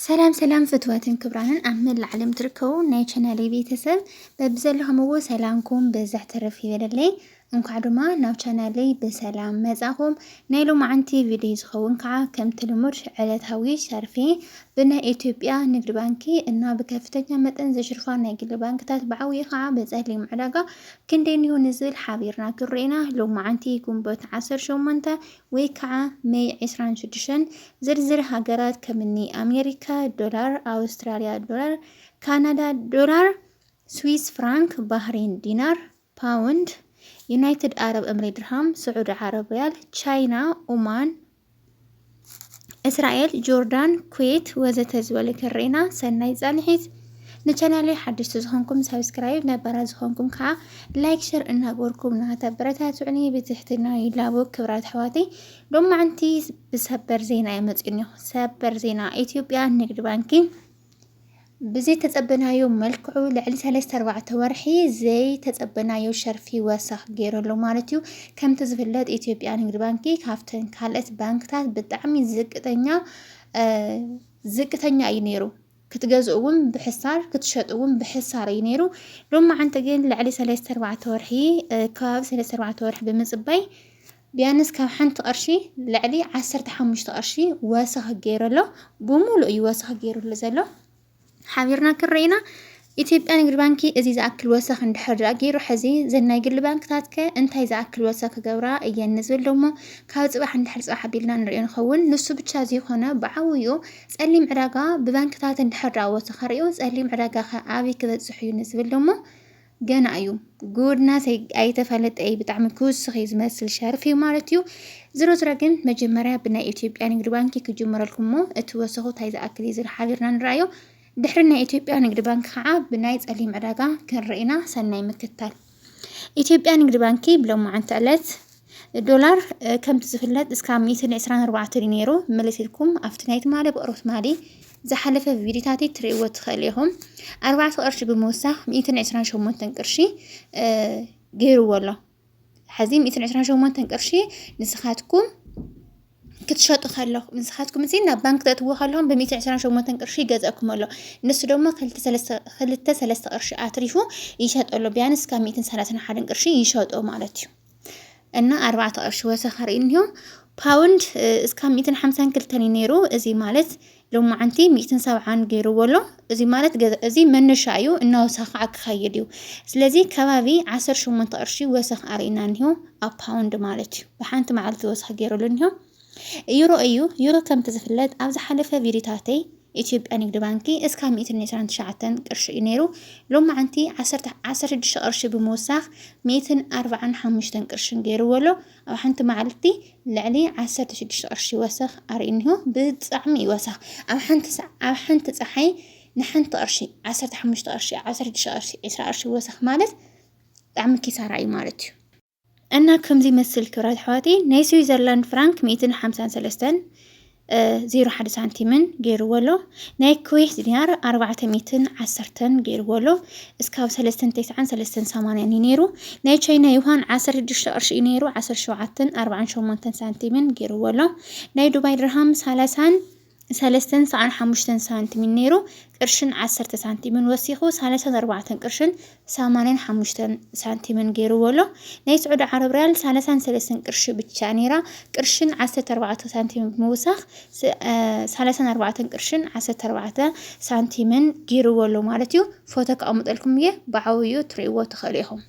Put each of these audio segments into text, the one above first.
ሰላም ሰላም ፍትወትን ክብራንን ኣብ መላእ ዓለም ትርከቡ ናይ ቻናለይ ቤተሰብ በብዘለኹምዎ ሰላምኩም በዛሕ ተረፍ ይበለለይ። እንኳዕ ድማ ናብ ቻናለይ ብሰላም መጻኹም። ናይ ሎማዓንቲ ቪድዮ ዝኸውን ከዓ ከምቲ ልሙድ ዕለታዊ ሸርፌ ብናይ ኢትዮጵያ ንግድ ባንኪ እና ብከፍተኛ መጠን ዝሽርፋ ናይ ግሊ ባንክታት ብዓብዩ ከዓ ብፀሊም ዕዳጋ ክንደይ እንሆ ንዝብል ሓቢርና ክንርኤና ሎማዓንቲ ግንቦት 18 ወይ ከዓ ሜይ ዕስራን ሽዱሽተን ዝርዝር ሃገራት ከምኒ ኣሜሪካ፣ ዶላር፣ ኣውስትራልያ፣ ዶላር፣ ካናዳ፣ ዶላር፣ ስዊስ ፍራንክ፣ ባህሬን ዲናር፣ ፓውንድ፣ ዩናይትድ ኣረብ እምሬ ድርሃም፣ ስዑዲ ዓረብ ሪያል፣ ቻይና፣ ኡማን፣ እስራኤል፣ ጆርዳን፣ ኩዌት ወዘተ ዝበሉ ክርኤና ሰናይ ፃንሒት። ንቻናለይ ሓደሽቲ ዝኾንኩም ሳብስክራይብ ነባራት ዝኾንኩም ከዓ ላይክ ሸር እናገበርኩም ናተበረታትዑኒ ብትሕትና ይላቦ። ክብራት ኣሕዋተይ ሎማዕንቲ ብሰበር ዜና የመፅኒ ሰበር ዜና ኢትዮጵያ ንግድ ባንኪ ብዘይተፀበናዮ መልክዑ ልዕሊ ሰለስተ ኣርባዕተ ወርሒ ዘይተፀበናዮ ሸርፊ ወሰኽ ገይረሉ ማለት እዩ። ከምቲ ዝፍለጥ ኢትዮጵያ ንግድ ባንኪ ካብተን ካልኦት ባንክታት ብጣዕሚ ዝቅተኛ ዝቅተኛ እዩ ነይሩ። ክትገዝእዎም ብሕሳር ክትሸጥዎም ብሕሳር እዩ ነይሩ። ሎማዓንቲ ግን ልዕሊ ሰለስተ ኣርባዕተ ወርሒ ከባቢ ሰለስተ ኣርባዕተ ወርሒ ብምፅባይ ቢያንስ ካብ ሓንቲ ቅርሺ ልዕሊ ዓሰርተ ሓሙሽተ ቅርሺ ወሰኽ ገይሩ ኣሎ። ብሙሉእ እዩ ወሰኽ ገይሩሉ ዘሎ ሓቢርና ክንርኢና ኢትዮጵያ ንግድ ባንኪ እዚ ዝኣክል ወሰኽ እንድሕር ገይሩ ሕዚ ዘናይ ግሊ ባንክታት ከ እንታይ ዝኣክል ወሰኽ ክገብራ እየን ንዝብል ደሞ ካብ ፅባሕ እንድሕር ፅባሕ ኣቢልና ንሪኦ ንኸውን። ንሱ ብቻ ዘይኮነ ብዓብይኡ ፀሊም ዕዳጋ ብባንክታት እንድሕር ድኣ ወፂኡ ከሪኡ ፀሊም ዕዳጋ ከ ኣበይ ክበፅሕ እዩ ንዝብል ደሞ ገና እዩ ጉድና ኣይተፈለጠ እዩ ብጣዕሚ ክውስኽ እዩ ዝመስል ሸርፍ እዩ ማለት እዩ ዝሮ ዝሮ ግን መጀመርያ ብናይ ኢትዮጵያ ንግዲ ባንኪ ክጅምረልኩም እሞ እቲ ወሰኹ ታይ ዝኣክል እዩ ዝብል ሓቢርና ንረኣዮ ድሕሪ ናይ ኢትዮጵያ ንግዲ ባንኪ ከዓ ብናይ ፀሊም ዕዳጋ ክንርኢና ሰናይ ምክታል ኢትዮጵያ ንግዲ ባንኪ ብሎማዓንቲ ዕለት ዶላር ከምቲ ዝፍለጥ እስካብ 124 እዩ ነይሩ መለስ ኢልኩም ኣብቲ ናይ ትማሊ ብቕሮ ትማሊ ዝሓለፈ ቪዲዮታተይ ትርእይዎ ትኽእሉ ኢኹም ኣርባዕተ ቅርሺ ብምውሳኽ ሚእትን ዕስራን ሸሞንተን ቅርሺ ገይርዎ ኣሎ ሕዚ ሚእትን ዕስራን ሸሞንተን ቅርሺ ንስኻትኩም ክትሸጡ ከለኹም ንስኻትኩም እዚ ናብ ባንክ ተእትዎ ከለኹም ብሚእቲ ዕስራን ሸሞንተን ቅርሺ ይገዝአኩም ኣሎ ንሱ ድማ ክልተ ሰለስተ ቅርሺ ኣትሪፉ ይሸጦ ኣሎ ቢያንስ ካብ ሚእትን ሰላሳን ሓደን ቅርሺ ይሸጦ ማለት እዩ እና ኣርባዕተ ቅርሺ ወሰኸር እዩ እኒሆ ፓውንድ እስካብ ሚእትን ሓምሳን ክልተን እዩ ነይሩ እዚ ማለት ሎማዓንቲ ሚእትን ሰብዓን ገይርዎ ኣሎ እዚ ማለት ገዛ እዚ መነሻ እዩ እናወሰኸ ከዓ ክኸይድ እዩ ስለዚ ከባቢ ዓሰርተ ሸሞንተ ቅርሺ ወሰኽ ኣርእና እኒሆ ኣብ ፓውንድ ማለት እዩ ብሓንቲ መዓልቲ ወሰኽ ገይሩሉ እኒሆ ዩሮ እዩ ዩሮ ከምቲ ዝፍለጥ ኣብ ዝሓለፈ ቪዲዮታተይ ኢትዮጵያ ንግድ ባንኪ እስካ ሚእትን ዕስራን ትሽዓተን ቅርሺ እዩ ነይሩ ሎማዓንቲ ዓሰርተ ዓሰርተ ሽዱሽተ ቅርሺ ብምውሳኽ ሚእትን ኣርባዓን ሓሙሽተን ቅርሽን ገይርዎ ኣሎ ኣብ ሓንቲ መዓልቲ ልዕሊ ዓሰርተ ሽዱሽተ ቅርሺ ወሰኽ ኣርእዩ እኒሆ ብጣዕሚ እዩ ወሰኽ ኣብ ሓንቲ ሳዕ ኣብ ሓንቲ ፀሓይ ንሓንቲ ቅርሺ ዓሰርተ ሓሙሽተ ቅርሺ ዓሰርተ ሽዱሽተ ቅርሺ ዕስራ ቅርሺ ወሰኽ ማለት ብጣዕሚ ኪሳራ እዩ ማለት እዩ እና ከምዚ መስል ክብራት ኣሕዋተይ ናይ ስዊዘርላንድ ፍራንክ ሚእትን ሓምሳን ሰለስተን ዜሮ ሓደ ሳንቲምን ገይርዎ ኣሎ። ናይ ኩዌት ዲናር ኣርባዕተ ሚትን ዓሰርተን ገይርዎ ኣሎ። እስካብ ሰለስተን ተስዓን ሰለስተን ሰማንያን እዩ ነይሩ። ናይ ቻይና ዩሃን ዓሰርተ ሽዱሽተ ቅርሺ እዩ ነይሩ። ዓሰርተ ሸውዓተን ኣርባዓን ሸሞንተን ሳንቲምን ገይርዎ ኣሎ። ናይ ዱባይ ድርሃም ሰላሳን ሰለስተን ሰዓን ሓሙሽተን ሳንቲምን ነይሩ። ቅርሽን ዓሰርተ ሳንቲምን ወሲኹ ሰላሳን ኣርባዕተን ቅርሽን ሰማንያን ሓሙሽተን ሳንቲምን ገይርዎ ኣሎ። ናይ ስዑዲ ዓረብ ሪያል ሰላሳን ሰለስተን ቅርሺ ብቻ ነይራ። ቅርሽን ዓሰርተ ኣርባዕተ ሳንቲምን ብምውሳኽ ሰላሳን ኣርባዕተን ቅርሽን ዓሰርተ ኣርባዕተ ሳንቲምን ገይርዎ ኣሎ ማለት እዩ። ፎቶ ከቐምጠልኩም እየ ብዓብዩ ትርእይዎ ትኽእሉ ኢኹም።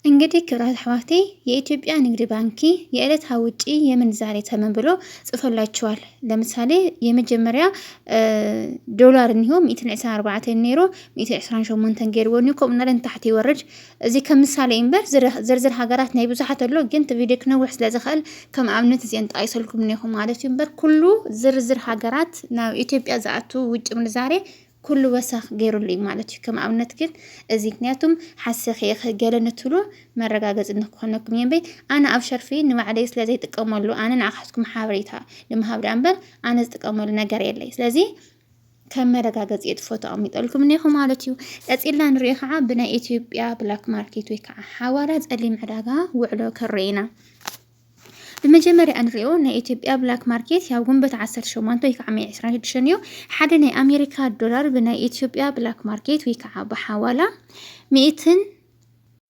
እንግዲህ ክብራት ኣሕዋቴ የኢትዮጵያ ንግድ ባንኪ የዕለታዊ ውጪ የምንዛሬ ተመን ብሎ ጽፈላችኋል። ለምሳሌ የመጀመርያ ዶላር እኒሆ ሚእትን ዕስራን ኣርባዕተን ነይሩ ሚእቲ ዕስራን ሸሞንተን ገይርዎን እዩ ከምኡ እናለ ንታሕቲ ይወርድ እዚ ከም ምሳሌ እዩ እምበር ዝር- ዝርዝር ሃገራት ናይ ብዙሓት ኣሎ ግን እቲ ቪድዮ ክነውሕ ስለ ዝኽእል ከም ኣብነት እዚአን ጠቒሰልኩም እኒኹ ማለት እዩ እምበር ኩሉ ዝርዝር ሃገራት ናብ ኢትዮጵያ ዝኣቱ ውጭ ምንዛሬ ኩሉ ወሰኽ ገይሩሉ እዩ ማለት እዩ ከም ኣብነት ግን እዚ ምክንያቱም ሓሰኺ እኽ ገለ ንትብሉ መረጋገፂ ንክኾነኩም እየ እምበይ ኣነ ኣብ ሸርፊ ንባዕለይ ስለ ዘይጥቀመሉ ኣነ ንዓኻትኩም ሓበሬታ ንምሃብ ድኣ እምበር ኣነ ዝጥቀመሉ ነገር የለይ ስለዚ ከም መረጋገፂ እቲ ፎቶ ኣቕሚጠልኩም እኒኹ ማለት እዩ። ቀፂልና ንሪኦ ከዓ ብናይ ኢትዮጵያ ብላክ ማርኬት ወይ ከዓ ሓዋላ ፀሊም ዕዳጋ ውዕሎ ክንርኢ ኢና። ብመጀመርያ እንሪኦ ናይ ኢትዮጵያ ብላክ ማርኬት ያው ግንቦት 18 ወይ ከዓ መይ 26 እዩ። ሓደ ናይ ኣሜሪካ ዶላር ብናይ ኢትዮጵያ ብላክ ማርኬት ወይ ከዓ ብሓዋላ ሚእትን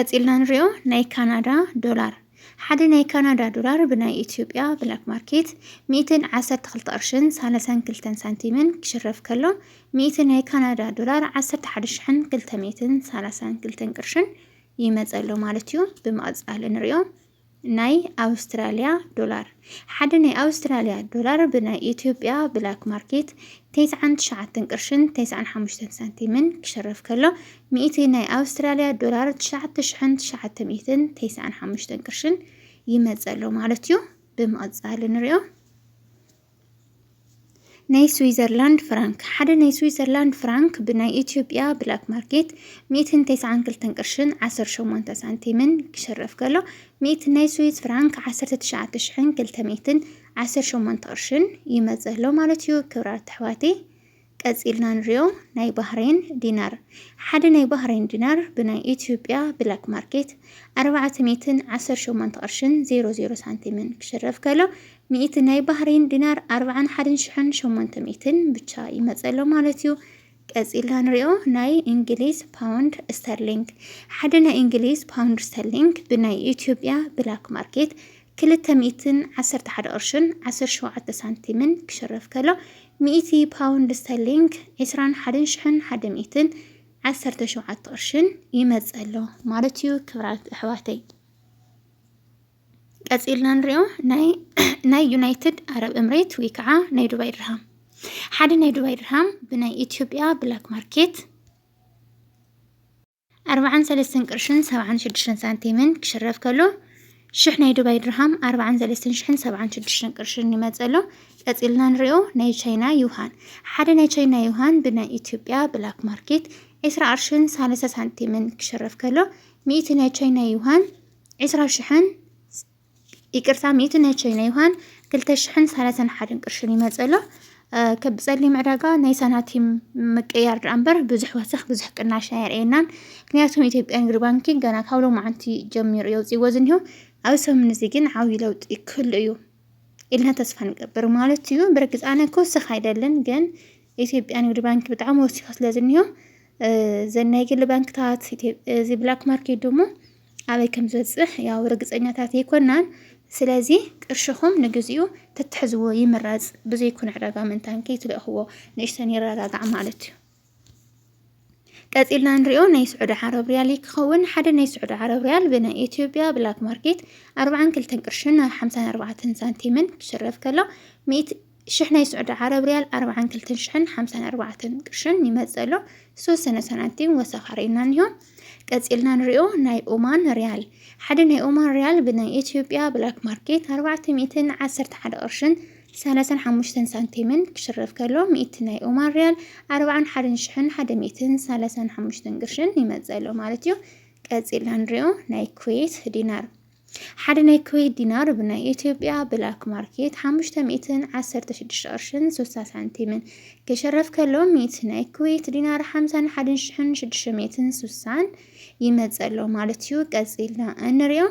ቀጺልና ንሪኦ ናይ ካናዳ ዶላር ሓደ ናይ ካናዳ ዶላር ብናይ ኢትዮጵያ ብላክ ማርኬት ሚእትን ዓሰርተ ክልተ ቅርሽን ሳለሳን ክልተን ሳንቲምን ክሽረፍ ከሎ ሚእቲ ናይ ካናዳ ዶላር ዓሰርተ ሓደ ሽሕን ክልተ ሚእትን ሳላሳን ክልተን ቅርሽን ይመፀሎ ማለት እዩ። ብምቕፃል ንሪኦ ናይ ኣውስትራልያ ዶላር። ሓደ ናይ ኣውስትራልያ ዶላር ብናይ ኢትዮጵያ ብላክ ማርኬት ተስዓን ትሽዓተን ቅርሽን ተስዓን ሓሙሽተን ሳንቲምን ክሽረፍ ከሎ ሚእቲ ናይ ኣውስትራልያ ዶላር ትሽዓተ ሽሕን ትሽዓተ ሚእትን ተስዓን ሓሙሽተን ቅርሽን ይመጸ ኣሎ ማለት እዩ። ብምቕጻል ንሪኦ። ናይ ስዊዘርላንድ ፍራንክ ሓደ ናይ ስዊዘርላንድ ፍራንክ ብናይ ኢትዮጵያ ብላክ ማርኬት ሚእትን ተስዓን ክልተን ቅርሽን ዓሰርተ ሸሞንተ ሳንቲምን ክሽረፍ ከሎ ሚእቲ ናይ ስዊዝ ፍራንክ ዓሰርተ ትሽዓተ ሽሕን ክልተ ሚእትን ዓሰርተ ሸሞንተ ቅርሽን ይመፅእ ኣሎ ማለት እዩ። ክብራት ኣሕዋተይ ቀጺልና ንሪኦ ናይ ባህሬን ዲናር። ሓደ ናይ ባህሬን ዲናር ብናይ ኢትዮጵያ ብላክ ማርኬት ኣርባዕተ ሚእትን ዓሰርተ ሸሞንተ ቅርሽን ዜሮ ዜሮ ሳንቲምን ክሽረፍ ከሎ ሚእቲ ናይ ባህሬን ዲናር ኣርባዓን ሓደን ሽሕን ሸሞንተ ሚእትን ብቻ ይመጸ ኣሎ ማለት እዩ። ቀጺልና ንሪኦ ናይ እንግሊዝ ፓውንድ ስተርሊንግ። ሓደ ናይ እንግሊዝ ፓውንድ ስተርሊንግ ብናይ ኢትዮጵያ ብላክ ማርኬት ክልተ ሚእትን ዓሰርተ ሓደ ቅርሽን ዓሰርተ ሸውዓተ ሳንቲምን ክሽረፍ ከሎ ሚእቲ ፓውንድ ስተርሊንግ፣ ዕስራን ሓደን ሽሕን ሓደ ሚእትን ዓሰርተ ሸውዓተ ቅርሽን፣ ይመጽእ ኣሎ ማለት እዩ ክብራት ኣሕዋተይ። ቀጺልና ንሪኦ ናይ ዩናይትድ ኣረብ እምሬት ወይ ከዓ ናይ ዱባይ ድርሃም ሓደ ናይ ዱባይ ድርሃም ብናይ ኢትዮጵያ ብላክ ማርኬት ኣርብዓን ሰለስተን ቅርሽን ሰብዓን ሽዱሽተን ሳንቲምን ክሽረፍ ከሎ ሽሕ ናይ ዱባይ ድርሃም ኣርብዓን ሰለስተን ሽሕን ሰብዓን ሽዱሽተን ቅርሽን ይመጽእ ኣሎ። ቀጺልና ንሪኦ ናይ ቻይና ዩሃን ሓደ ናይ ቻይና ዩሃን ብናይ ኢትዮጵያ ብላክ ማርኬት ዕስራ ቅርሽን ሳለሳ ሳንቲምን ክሽረፍ ከሎ ሚእቲ ናይ ቻይና ዩሃን ዕስራ ሽሕን ይቅርታ ሚእቲ ናይ ቻይና ይውሃን ክልተ ሽሕን ሰላሳን ሓደን ቅርሽን ይመፀሎ ከብ ፀሊም ዕዳጋ ናይ ሳናቲም ምቅያር ድኣ እምበር ብዙሕ ወሰኽ ብዙሕ ቅናሽ ኣየርእየናን ምክንያቱም ኢትዮጵያ ንግድ ባንኪ ገና ካብ ሎማዓንቲ ጀሚሩ የውፅዎ ዝኒሆ ኣብ ሰሙን እዚ ግን ዓብዪ ለውጢ ክህሉ እዩ ኢልና ተስፋ ንገብር ማለት እዩ ብርግፅ ኣነ ክወስኽ ኣይደልን ግን ኢትዮጵያ ንግድ ባንኪ ብጣዕሚ ወሲኹ ስለ ዝኒሆ ዘናይ ግሊ ባንክታት እዚ ብላክ ማርኬት ድሞ ኣበይ ከም ዝበጽሕ ያው ርግጸኛታት ኣይኮናን። ስለዚ ቅርሽኹም ንግዚኡ ተትሕዝዎ ይምረጽ። ብዘይኩን ዕዳጋ ምንታን ከይትልእኽዎ ንእሽተን ይረጋጋዕ ማለት እዩ። ቀጺልና ንሪኦ ናይ ስዑዲ ዓረብ ሪያል ክኸውን ሓደ ናይ ስዑዲ ዓረብ ሪያል ብናይ ኢትዮጵያ ብላክ ማርኬት 42 ቅርሽን 54 ሳንቲምን ክሽረፍ ከሎ ሽሕ ናይ ስዑዲ ዓረብ ሪያል ኣርብዓን ክልተን ሽሕን ሓምሳን ኣርባዕተን ቅርሽን ይመጽእ ኣሎ ዝተወሰነ ሳንቲም ወሰኻ ርኢና እኒሆ ቀጺልና ንሪኦ ናይ ኦማን ሪያል ሓደ ናይ ኦማን ሪያል ብናይ ኢትዮጵያ ብላክ ማርኬት ኣርባዕተ ሚእትን ዓሰርተ ሓደ ቅርሽን ሰላሳን ሓሙሽተን ሳንቲምን ክሽረፍ ከሎ ሚእቲ ናይ ኦማን ሪያል ኣርባዓን ሓደን ሽሕን ሓደ ሚእትን ሰላሳን ሓሙሽተን ቅርሽን ይመጽእ ኣሎ ማለት እዩ ቀጺልና ንሪኦ ናይ ኩዌት ዲናር ሓደ ናይ ኩዌት ዲናር ብናይ ኢትዮጵያ ብላክ ማርኬት ሓሙሽተ ሚእትን ዓሰርተ ሽዱሽተ ቅርሽን ስልሳ ሳንቲምን ክሽረፍ ከሎ ሚእቲ ናይ ኩዌት ዲናር ሓምሳን ሓደን ሽሕን ሽዱሽተ ሚእትን ስልሳን ይመጸሎ ማለት እዩ። ቀጺልና እንሪኦ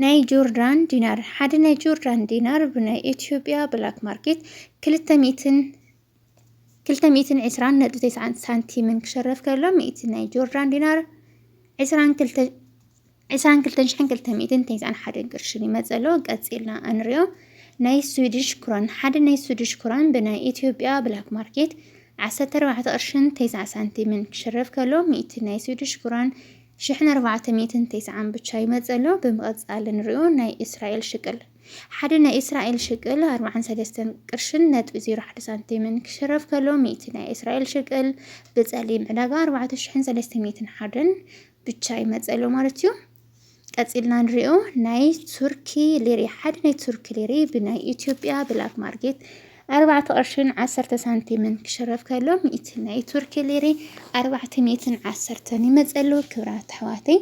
ናይ ጆርዳን ዲናር ሓደ ናይ ጆርዳን ዲናር ብናይ ኢትዮጵያ ብላክ ማርኬት ክልተ ሚእትን ክልተ ሚእትን ዕስራን ነጥቢ ተስዓን ሳንቲምን ክሸረፍ ከሎ ሚእቲ ናይ ጆርዳን ዲናር ዕስራን ክልተ ዕስራን ክልተን ሽሕን ክልተ ሚእትን ተስዓን ሓደን ቅርሽን ይመጽእ ኣሎ ቀጺልና እንሪኦ ናይ ስዊድሽ ክሮን ሓደ ናይ ስዊድሽ ክሮን ብናይ ኢትዮጵያ ብላክ ማርኬት 14 ቅርሽን 90 ሳንቲምን ክሽረፍ ከሎ ሚእቲ ናይ ስዊድሽ ክሮን ሽሕን ኣርባዕተ ሚእትን ተስዓን ብቻ ይመጽእ ኣሎ። ብምቕጻል ንሪኦ ናይ እስራኤል ሽቅል ሓደ ናይ እስራኤል ሽቅል ኣርብዓን ሰለስተን ቅርሽን ነጥቢ ዜሮ ሓደ ሳንቲምን ክሽረፍ ከሎ ሚእቲ ናይ እስራኤል ሽቅል ብጸሊም ዕዳጋ ኣርባዕተ ሽሕን ሰለስተ ሚእትን ሓደን ብቻ ይመጸሎ ማለት እዩ። ቀጺልና ንሪኦ ናይ ቱርኪ ሊሪ ሓደ ናይ ቱርኪ ሊሪ ብናይ ኢትዮጵያ ብላክ ማርኬት ኣርባዕተ ቅርሽን ዓሰርተ ሳንቲምን ክሽረፍ ከሎ ሚእቲ ናይ ቱርኪ ሊሪ ኣርባዕተ ሚእትን ዓሰርተን ይመጸሉ ክብራት ኣሕዋተይ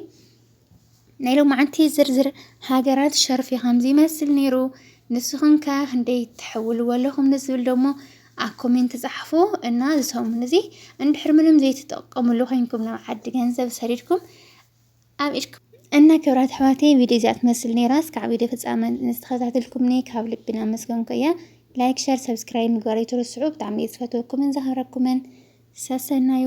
ናይ ሎማዓንቲ ዝርዝር ሃገራት ሸርፊ ከምዚ ይመስል ነይሩ ንስኹም ከ ክንደይ ትሕውልዎ ኣለኹም ንዝብል ደሞ ኣብ ኮሜንት ጻሕፉ እና ዝሰሙን እዚ እንድሕር ምንም ዘይትጠቀምሉ ኮይንኩም ናብ ዓዲ ገንዘብ ሰዲድኩም ኣብ ኢድኩም እና ክብራት ኣሕዋተይ ቪድዮ እዚኣ ትመስል ነይራ እስካዕ ቪድዮ ፍጻመ ዝተኸታተልኩምኒ ካብ ልቢ ናመስገንኩ እየ ላይክ ሸር ሰብስክራይብ ምግባር ኣይትርስዑ ብጣዕሚ እየ ዝፈትወኩምን ዘኽብረኩምን ሰሰናዩ